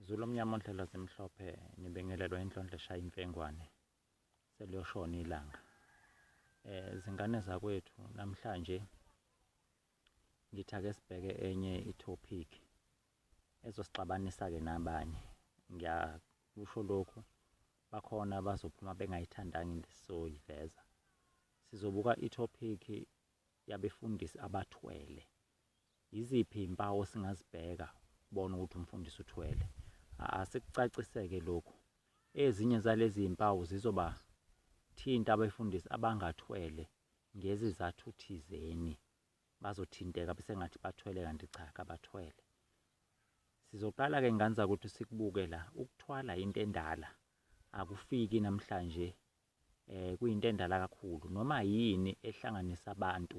Zulu omnyama ondlela zimhlophe nibingelelwa inhlonhle shaya imfengwane seliyoshona ilanga eh zingane zakwethu namhlanje ngithake sibheke enye itopic ezosixabanisa ke nabanye ngiyakusho lokhu bakhona bazophuma bengayithandanga into esizoyiveza sizobuka itopic yabefundisi abathwele Yiziphi izimpawu esingazibheka ukubona ukuthi umfundisi uthwele? Asikucaciseke lokhu. Ezinye zalezi zimpawu zizobathinta abefundisi abangathwele ngezizathu thizeni. Bazothinteka besengathi bathwele kanti cha kabathwele. Sizoqala-ke ngane zakwethu sikubuke la, ukuthwala into endala akufiki namhlanje um kuyinto endala kakhulu noma yini ehlanganisa abantu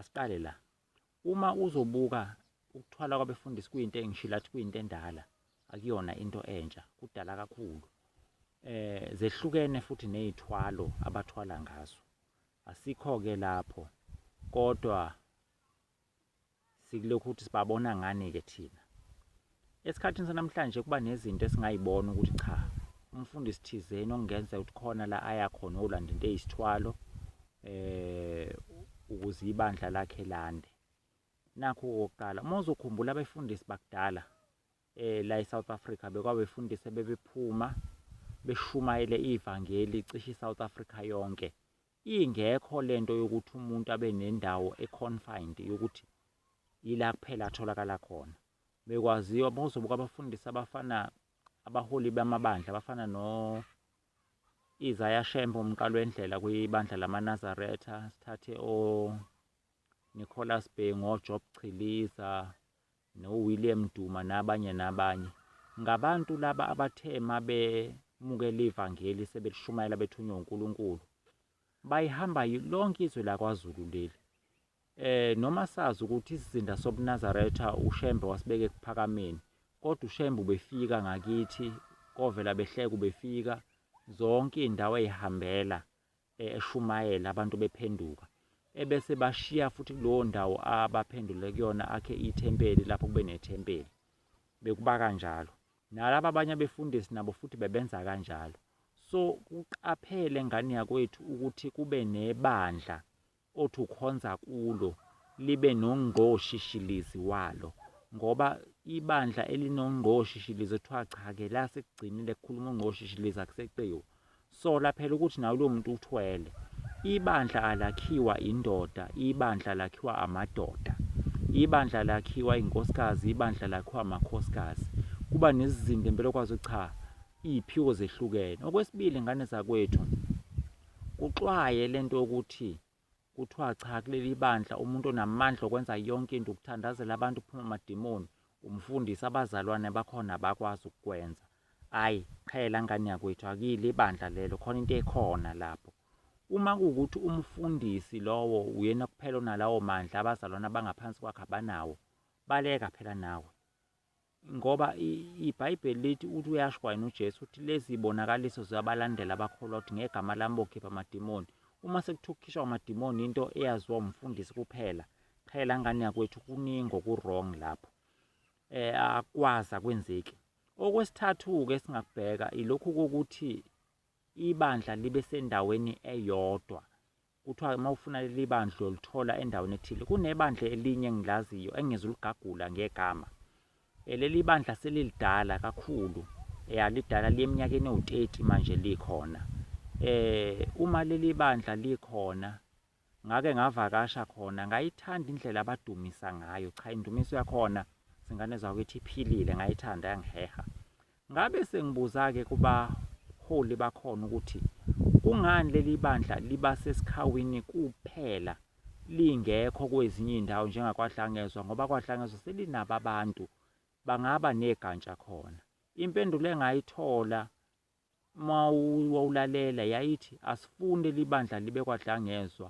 Asiqale la. Uma uzobuka ukuthwala kwabefundisi kuyinto engishilo athi kuyinto endala, akuyona into entsha, kudala kakhulu. Eh zehlukene futhi nezithwalo abathwala ngazo. Asikho ke lapho kodwa Sikulokhu ukuthi sibabona ngani-ke thina. Esikhathini sanamhlanje kuba nezinto esingayibona ukuthi cha, umfundisi thizeni okungenzeka ukuthi khona la aya khona olanda into eyisithwalo eh ukuze ibandla lakhe lande. Nakho kokuqala uma uzokhumbula abefundisi bakudala eh la eSouth Africa bekwabefundisi bebephuma beshumayele ivangeli cishe iSouth Africa yonke Ingekho lento yokuthi umuntu abe nendawo econfined yokuthi yila kuphela atholakala khona. Bekwaziwa bozobuka abafundisi abafana abaholi bamabandla abafana no Isaiah Shembe umqalo wendlela kwibandla lamaNazaretha, sithathe o Nicholas Bhengu, oJob Chiliza, noWilliam Duma nabanye nabanye. Ngabantu laba abathe uma bemukela ivangeli sebelishumayela bethunywe uNkulunkulu. Bayihamba lonke izwe lakwaZulu leli. Eh noma sazi ukuthi isizinda sobuNazaretha uShembe wasibeka ekuphakameni kodwa uShembe ubefika ngakithi kovela behleka ubefika zonke izindawo ezihambela e, eshumayela abantu bephenduka ebese bashiya futhi kulowo ndawo abaphendule kuyona akhe ithempeli lapho kube nethempeli bekuba kanjalo nalaba abanye abefundisi nabo futhi bebenza kanjalo so kuqaphele ngane yakwethu ukuthi kube nebandla othi ukhonza kulo libe nongqoshishilizi walo ngoba ibandla elinongqoshishilizi kuthiwa cha-ke la sekugcinile kukhuluma ungqoshishilizi akuseqiwa sola phela ukuthi nawe lowo muntu uthwele ibandla alakhiwa indoda ibandla lakhiwa amadoda ibandla lakhiwa inkosikazi ibandla lakhiwa amakhosikazi kuba nezizinda impela okwazi ukuthi cha iyiphiwo zehlukene. Okwesibili ngane zakwethu kuxwaye lento yokuthi kuthiwa cha kuleli bandla umuntu onamandla okwenza yonke into ukuthandazela abantu phuma amadimoni umfundisi abazalwane bakhona abakwazi ukukwenza ayi qhela ngane yakwethu akile ibandla lelo khona into ekhona lapho uma kuwukuthi umfundisi lowo uyena kuphela onalawo mandla abazalwane abangaphansi kwakhe abanawo baleka phela nawe Ngoba iBhayibheli lithi uthi uyasho kwayena uJesu uthi lezi zibonakaliso ziyabalandela abakholwa ukuthi ngegama lami bokhipha amadimoni. Uma sekuthiwa ukukhishwa kwamadimoni into eyaziwa umfundisi kuphela, cha la ngane yakwethu kuningi oku-wrong lapho. Eh akwazi akwenzeki. Okwesithathu-ke esingakubheka ilokhu kokuthi ibandla libe sendaweni eyodwa Kuthiwa-ke uma ufuna leli bandla uyolithola endaweni ethile. Kunebandla elinye engilaziyo engizuligagula ngegama. Eh, leli bandla selilidala kakhulu. Ya, lidala liyeminyakeni ewu-30 manje likhona. Eh, uma leli bandla likhona, ngake ngavakasha khona, ngayithanda indlela abadumisa ngayo. Cha, indumiso yakhona zingane zakho ithi iphilile, ngayithanda yangiheha. Ngabe sengibuza-ke kubaholi bakhona ukuthi kungani leli bandla liba sesikhawini kuphela lingekho kwezinye iy'ndawo njengakwaDlangezwa ngoba kwaDlangezwa selinabo abantu bangaba negantsha khona. Impendulo engayithola uma wawulalela yayithi asifuni leli bandla libe kwaDlangezwa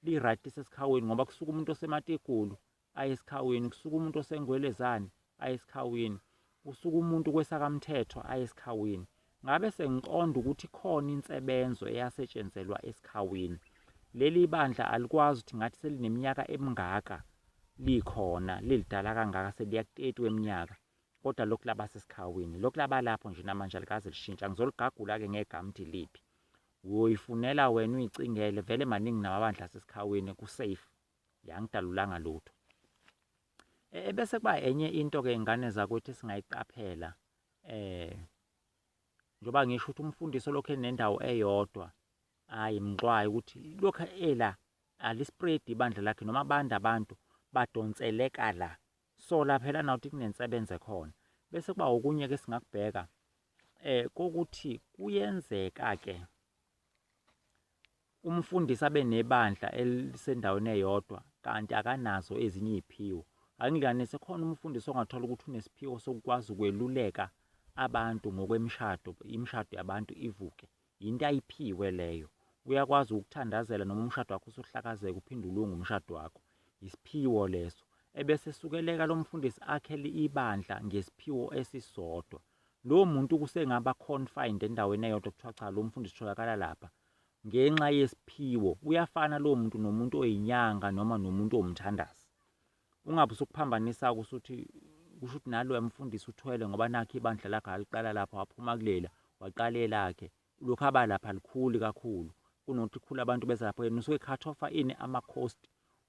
li-right lisesikhaweni ngoba kusuke umuntu osemategulu aye esikhawini, kusuka umuntu osengwelezane aye esikhawini, kusuka umuntu kwesakamthethwa aye esikhawini. Ngabe sengiqonda ukuthi khona insebenzo eyasetshenzelwa esikhawini. Leli bandla alikwazi ukuthi ngathi selineminyaka emingaka likhona lilidala kangaka seliya ku-30 weminyaka kodwa lokhu laba sesikhawini lokhu laba lapho nje namanje alikaze lishintsha ngizoligagula-ke ngegama ukuthi liphi uyoyifunela wena uyicingele vele maningi namabandla asesikhaweni kusafe yangidalulanga lutho e, e, bese kuba enye into ke ingane zakwethu singayiqaphela eh njoba ngisho ukuthi umfundisi olokhu enendawo eyodwa hayi mnqwayi ukuthi lokhu ela alispread ibandla lakhe noma abanda abantu badonseleka la sola phela nawuthi kunensebenze khona bese kuba okunye ke singakubheka eh kokuthi kuyenzeka ke Umfundisi abe nebandla elisendaweni eyodwa kanti akanazo ezinye iziphiwo. Angilinganise khona umfundisi ongathola ukuthi unesiphiwo sokukwazi ukweluleka abantu ngokwemishado, imishado yabantu ivuke. Yinto ayiphiwe leyo. Uyakwazi ukuthandazela noma umshado wakho usuhlakazeka uphinde ulunge umshado wakho. Isiphiwo leso. Ebese sukeleka lo mfundisi akhele ibandla ngesiphiwo esisodwa. Lowo muntu kusengaba confined endaweni eyodwa kuthiwa cha lo mfundisi utholakala lapha ngenxa yesiphiwo. Uyafana lowo muntu nomuntu oyinyanga noma nomuntu owumthandazi. Ungabe usukuphambanisa-ke usuthi kusho ukuthi naloya mfundisi uthwele ngoba nakhu ibandla lakhe aliqala lapha waphuma kulela waqala elakhe Ulokhu aba lapha likhuli kakhulu kunokuthi khula abantu beza lapho yena usuke cut off ini ama cost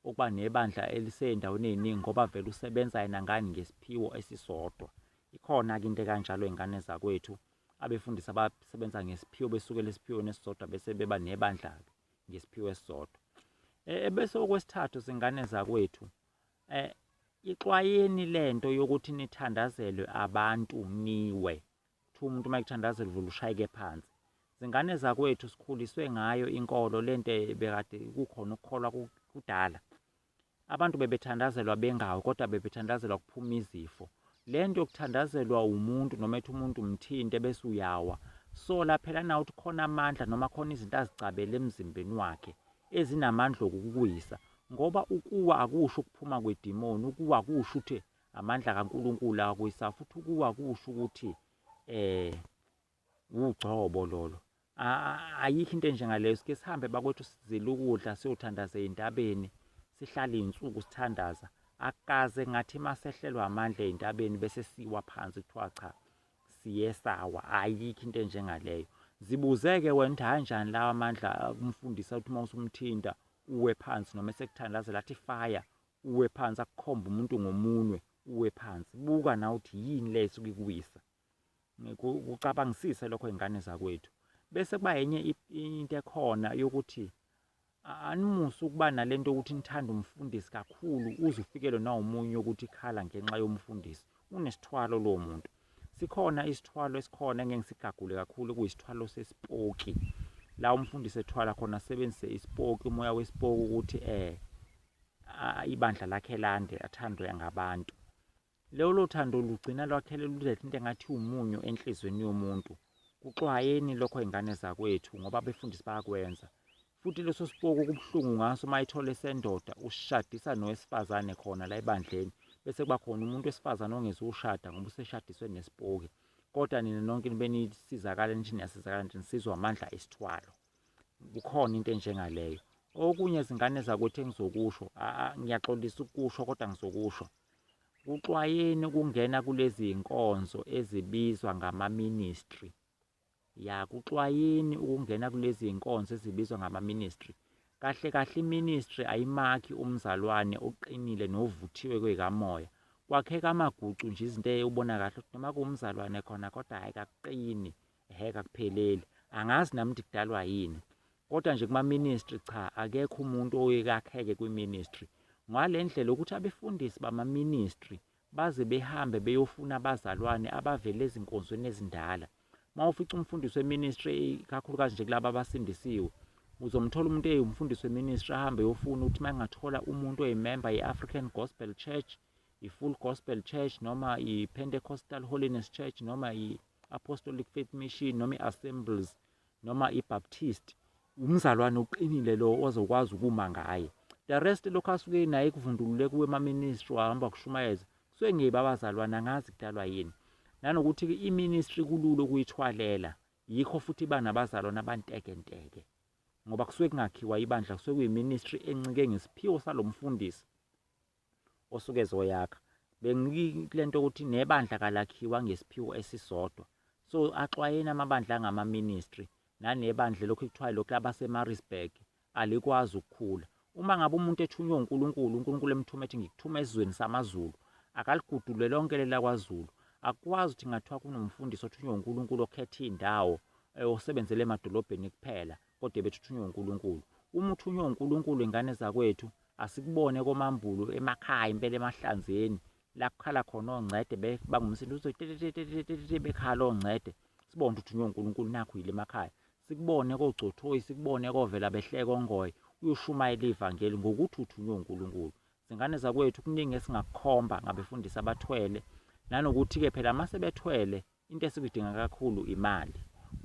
okuba nebandla elisezindaweni eziningi ngoba vele usebenza yena ngani ngesiphiwo esisodwa ikhona ke into kanjalo ingane zakwethu abefundisi abasebenza ngesiphiwo besuke lesiphiwo nesisodwa bese beba nebandla ke ngesiphiwo esisodwa eh, ebese okwesithathu singane zakwethu eh ixwayeni lento yokuthi nithandazelwe abantu niwe Kuthiwa umuntu uma ekuthandaza edlula ushayeke phansi. Zingane zakwethu sikhuliswe ngayo inkolo le nto bekade kukhona ukukholwa kudala. Abantu bebethandazelwa bengawo kodwa bebethandazelwa kuphuma izifo. Le nto yokuthandazelwa umuntu noma ethi umuntu umthinte bese uyawa. Sola phela nawe ukuthi khona amandla noma khona izinto azicabele emzimbeni wakhe ezinamandla okukuwisa ngoba ukuwa akusho ukuphuma kwedimoni, ukuwa kusho ukuthi Amandla kaNkulunkulu akwisa futhi ukuwa kusho ukuthi eh wugcobo lolo. Ayikho into enjengaleyo sike sihambe bakwethu sizile ukudla siyothandaza ezintabeni sihlale izinsuku sithandaza akaze ngathi masehlelwa amandla ezintabeni bese siwa phansi kuthiwa cha siyesawa ayikho into enjengaleyo zibuzeke wena ukuthi kanjani lawa amandla kumfundisa ukuthi uma usumthinta uwe phansi noma esekuthandazela athi fire Uwe phansi akukhombe umuntu ngomunwe uwe phansi buka nawe ukuthi yini le esuke ikuwisa kucabangisise lokho ingane zakwethu bese kuba yenye into ekhona yokuthi animuse ukuba nalento yokuthi nithanda umfundisi kakhulu uze ufikelwe nawumunye ukuthi ikhala ngenxa yomfundisi unesithwalo lowo muntu sikhona isithwalo esikhona engeke ngisigagule kakhulu kuyisithwalo sesipoki la umfundisi ethwala khona asebenzise isipoki umoya wesipoki ukuthi eh ibandla lakhe lande athandwe ngabantu lolo thando lugcina lwakhele luletha into engathi umunyu enhlizweni yomuntu kuxwayeni lokho ingane zakwethu ngoba abefundisi bayakwenza futhi leso sipoku kubuhlungu ngaso uma ithole sendoda ushadisa nowesifazane khona la ebandleni bese kuba khona umuntu wesifazane ongezukushada ngoba useshadiswe nesipoki kodwa nina nonke nibe nisizakala nithi niyasizakala nje nisizwa amandla esithwalo Kukhona into enjengaleyo. Okunye zingane zakwethu engizokusho, ngiyaxolisa ukusho kodwa ngizokusho. Kuxwayeni ukungena kulezi iy'nkonzo ezibizwa ngama-ministry. Ya, kuxwayeni ukungena kulezi iy'nkonzo ezibizwa ngama-ministry. Kahle kahle i-ministry ayimakhi umzalwane oqinile novuthiwe kwey'kamoya. Kwakheka amagucu nje izinto ey'ubona kahle ukuthi noma kuwumzalwane khona kodwa hhayi kakuqini. Ehhe kakupheleli. Angazi nami ukuthi kudalwa yini. Kodwa nje kuma ministry cha akekho umuntu oye kakheke kwi ministry. Ngale ndlela ukuthi abefundisi bama ministry baze behambe beyofuna abazalwane abavele ezinkonzweni ezindala. Mawufica umfundisi we ministry kakhulukazi nje kulabo abasindisiwe uzomthola umuntu eyumfundisi we ministry ahambe yofuna ukuthi mangathola umuntu oyimember ye African Gospel Church i-Full Gospel Church noma i-Pentecostal Holiness Church noma i-Apostolic Faith Mission noma i-Assemblies noma i-Baptist umzalwane uqinile lo ozokwazi ukuma ngaye the rest lokho asuke naye kuvundulule kuwe ema-ministry wahamba kushumayeza kusuke ngeyiba abazalwane angazi kudalwa yini nanokuthi-ke i-ministry kulula ukuyithwalela yikho futhi iba nabazalwane abantekenteke ngoba kusuke kungakhiwa ibandla kusuke kuyiministry encike ngesiphiwo salo mfundisi osuke ezoyakha bengikilento ukuthi nebandla kalakhiwa ngesiphiwo esisodwa so axwayeni amabandla angama ministry nanebandla lokhu kuthiwa lokhu labasemarisburg alikwazi ukukhula uma ngabe umuntu ethunywe uNkulunkulu uNkulunkulu emthuma ethi ngikuthuma esizweni samazulu akaligudule lonke lela kwaZulu akwazi ukuthi ngathiwa kunomfundisi othunywe uNkulunkulu okhetha indawo eh, osebenzele emadolobheni kuphela kodwa bethuthunye uNkulunkulu uma uthunywe uNkulunkulu ingane zakwethu asikubone komambulu emakhaya impela emahlanzeni la kukhala khona ongcede bangumsindo uzotetetetetete bekhala ongcede sibone ukuthi uthunywe uNkulunkulu nakho yile emakhaya sikubone kogcothoyi sikubone kovela behleke ongoye uyoshumayela ivangeli ngokuthi uthunywe uNkulunkulu zingane zakwethu kuningi esingakukhomba ngabefundisi abathwele nanokuthi-ke phela uma sebethwele Into esuke idinga kakhulu imali.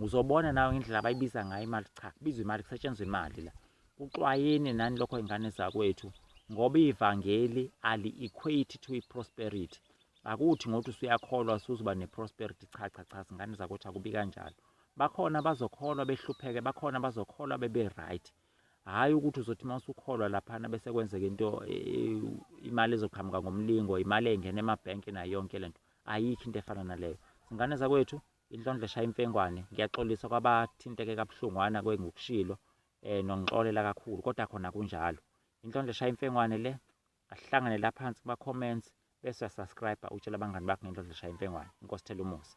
Uzobona nawe ngendlela abayibiza ngayo imali, cha kubizwa imali, kusetshenzwa imali la. Kuxwayeni nani lokho ingane zakwethu ngoba ivangeli ali-equate to i-prosperity. Akuthi ngothi usuyakholwa usuzoba ne-prosperity, cha cha cha, zingane zakwethu akubi kanjalo. Bakhona abazokholwa behlupheke, bakhona abazokholwa bebe-right. hhayi ukuthi uzothi uma usukholwa laphana bese kwenzeka into e, e, imali ezoqhamuka ngomlingo imali engena emabhenki nayo yonke le nto ayikho into efana naleyo zingane zakwethu inhlondlo eshaya imfengwane ngiyaxolisa kwabathinteke kabuhlungwana kwengukushilo um nongixolela kakhulu kodwa khona kunjalo inhlondlo eshaya imfengwane le asihlangane la phansi kuma-comments bese uyasubscribe utshela abangani bakho ngenhlondlo eshaya imfengwane inkosi thela umusa